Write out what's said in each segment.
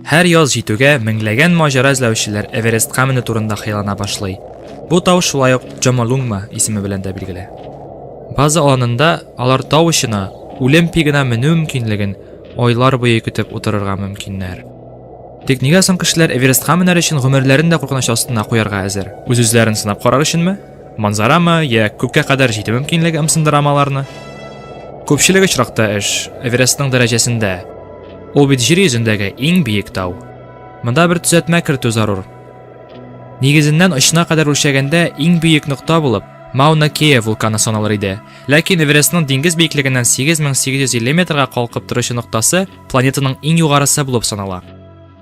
Һәр яз җитүгә меңләгән маҗара эзләүчеләр Эверестка менү турында хыяллана башлый. Бу тау шулай ук Джомолунгма исеме белән дә билгеле. База аланында алар тау очына үлем пигына менү мөмкинлеген айлар буе көтеп утырырга мөмкиннәр. Тик нигә соң кешеләр Эверестка менәр өчен гомерләрен дә куркыныч астына куярга әзер? Үз-үзләрен сынап карар өченме? Манзарамы, я күккә кадәр җитү мөмкинлеге ымсындырам аларны. Күпчелек очракта эш Эверестның дәрәҗәсендә. Ул бит җир йөзендәге иң биек тау. Монда бер төзәтмә кертү зарур. Нигезеннән очына кадәр үлчәгәндә иң биек нокта булып Мауна Кея вулканы саналыр иде. Ләкин Эверестның диңгез биеклегеннән 8850 метрга калкып торучы ноктасы планетаның иң югарысы булып санала.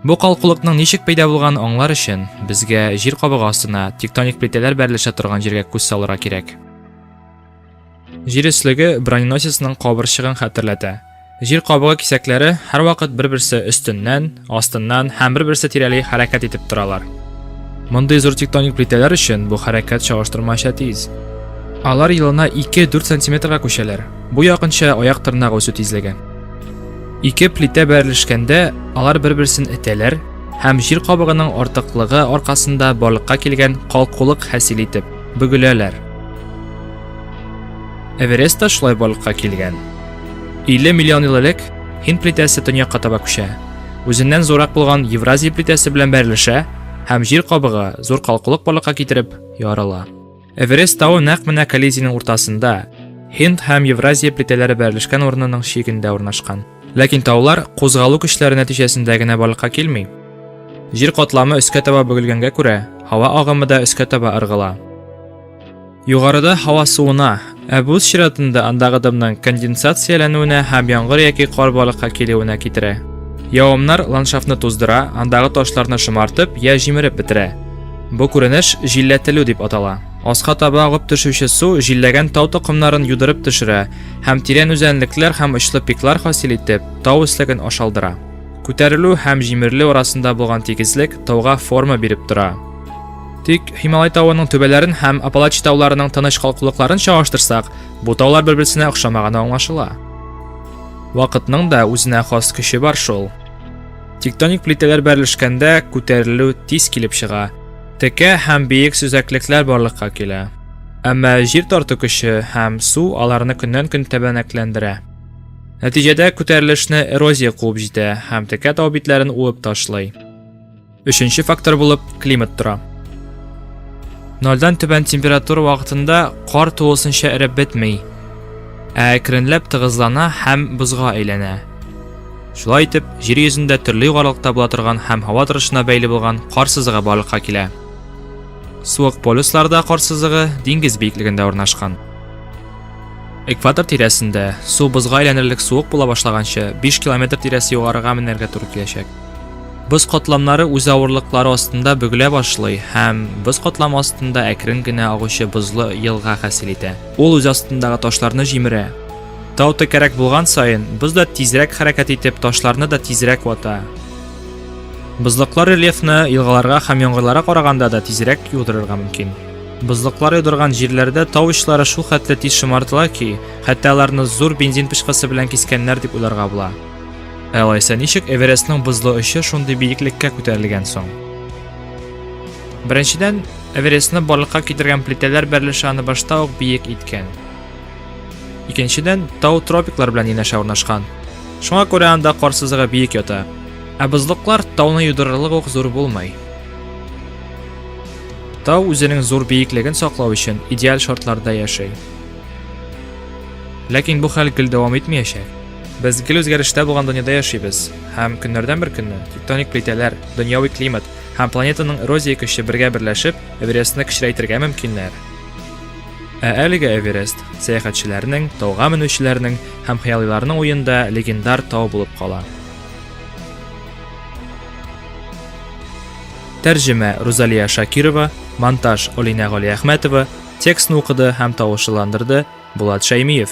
Бу калкулыкның ничек пәйда булганын аңлар өчен, безгә җир кабыгы астына тектоник плитәләр бәрелешә торган җиргә күз салырга кирәк. Җир өслеге броненосецның кабырчыгын хәтерләтә. Җир кабыгы кисәкләре һәрвакыт бер-берсе өстеннән, астыннан һәм бер-берсе тирәли хәрәкәт итеп торалар. Мондый зур тектоник плитәләр өчен бу хәрәкәт чагыштырмача тиз. Алар елына 2-4 сантиметрга күчәләр. Бу якынча аяк тырнагы үсү тизлеге. Ике плитә бәрелешкәндә алар бер-берсен этәләр һәм җир кабыгының артыклыгы аркасында барлыкка килгән калкулык хасил итеп бөгеләләр. Эверест та шулай барлыкка килгән. 50 миллион ел элек Һинд плитәсе төньякка таба күчә. Үзеннән зурак булган Евразия плитәсе белән бәрелешә һәм җир кабыгы зур калкулык барлыкка китереп ярыла. Эверест тавы нәкъ менә коллизиянең уртасында, Һинд һәм Евразия плитәләре бәрелешкән урынының чигендә урнашкан. Ләкин таулар кузгалу көчләре нәтиҗәсендә генә барлыкка килми. Җир катламы өскә таба бөгелгәнгә күрә, һава агымы да өскә таба ыргыла. Югарыда һава суына, Ә бу үз чиратында андагы дымның конденсацияләнүенә һәм яңгыр яки кар балыкка килүенә китерә. Явымнар ландшафтны туздыра, андагы ташларны шомартып я җимереп бетерә. Бу күренеш җилләтелү дип атала. Аска таба агып төшүче су җилләгән тау токымнарын юдырып төшерә һәм тирән үзәнлекләр һәм очлы пиклар хасил итеп, тау өслеген ашалдыра. Күтәрелү һәм җимерелү арасында булган тигезлек тауга форма биреп тора. Тик Һималай тавының түбәләрен һәм Апалачи тауларының тыныч калкулыкларын чагыштырсак, бу таулар бер-берсенә охшамаганы аңлашыла. Вакытның да үзенә хас көче бар шул. Тектоник плитәләр бәрелешкәндә күтәрелү тиз килеп чыга. Текә һәм биек сөзәклекләр барлыкка килә. Әмма җир тарту көче һәм су аларны көннән-көн тәбәнәкләндерә. Нәтиҗәдә күтәрелешне эрозия куып җитә һәм текә тау битләрен уып ташлый. Өченче фактор булып климат тора. Нолдан түбән температура вакытында кар тулысынча эреп бетми, ә әкренләп тыгызлана һәм бозга әйләнә. Шулай итеп, җир йөзендә төрле югарылыкта була торган һәм һава торышына бәйле булган кар сызыгы барлыкка килә. Суык полюсларда кар сызыгы диңгез биеклегендә урнашкан. Экватор тирәсендә су бозга әйләнерлек суык була башлаганчы 5 километр тирәсе югарыга менәргә туры киләчәк. Боз катламнары үз авырлыклары астында бөгелә башлый һәм боз катламы астында әкрен генә агучы бозлы елга хасил итә. Ул үз астындагы ташларны җимерә. Тау текәрәк булган саен, боз да тизрәк хәрәкәт итеп, ташларны да тизрәк вата. Бозлыклар рельефны елгаларга һәм яңгырларга караганда да тизрәк юдырырга мөмкин. Бозлыклар юдырган җирләрдә тау очлары шул хәтле тиз шомартыла ки, хәтта аларны зур бензин пычкысы белән кискәннәр дип уйларга була. Алайса ничек Эверестның бозлы очы шундый биеклеккә күтәрелгән соң? Беренчедән, Эверестны барлыкка китергән плитәләр бәрелеше аны башта ук биек иткән. Икенчедән, тау тропиклар белән янәшә урнашкан. Шуңа күрә анда кар сызыгы биек ята. Ә бозлыклар тауны юдырырлык ук зур булмый. Тау үзенең зур биеклеген саклау өчен идеаль шартларда яши. Ләкин бу хәл гел дәвам итмәячәк. Без гел үзгәрештә булган дөньяда яшибез, һәм көннәрдән бер көнне тектоник плитәләр, дөньяви климат һәм планетаның эрозия көче бергә берләшеп, Эверестны кечерәйтергә мөмкиннәр. Ә әлегә Эверест сәяхәтчеләрнең, тауга менүчеләрнең һәм хыялыйларның уенда легендар тау булып кала. Тәрҗемә Рузалия Шакирова, монтаж Олинә Галиәхмәтова, текстны укыды һәм тавышландырды Булат Шәймиев.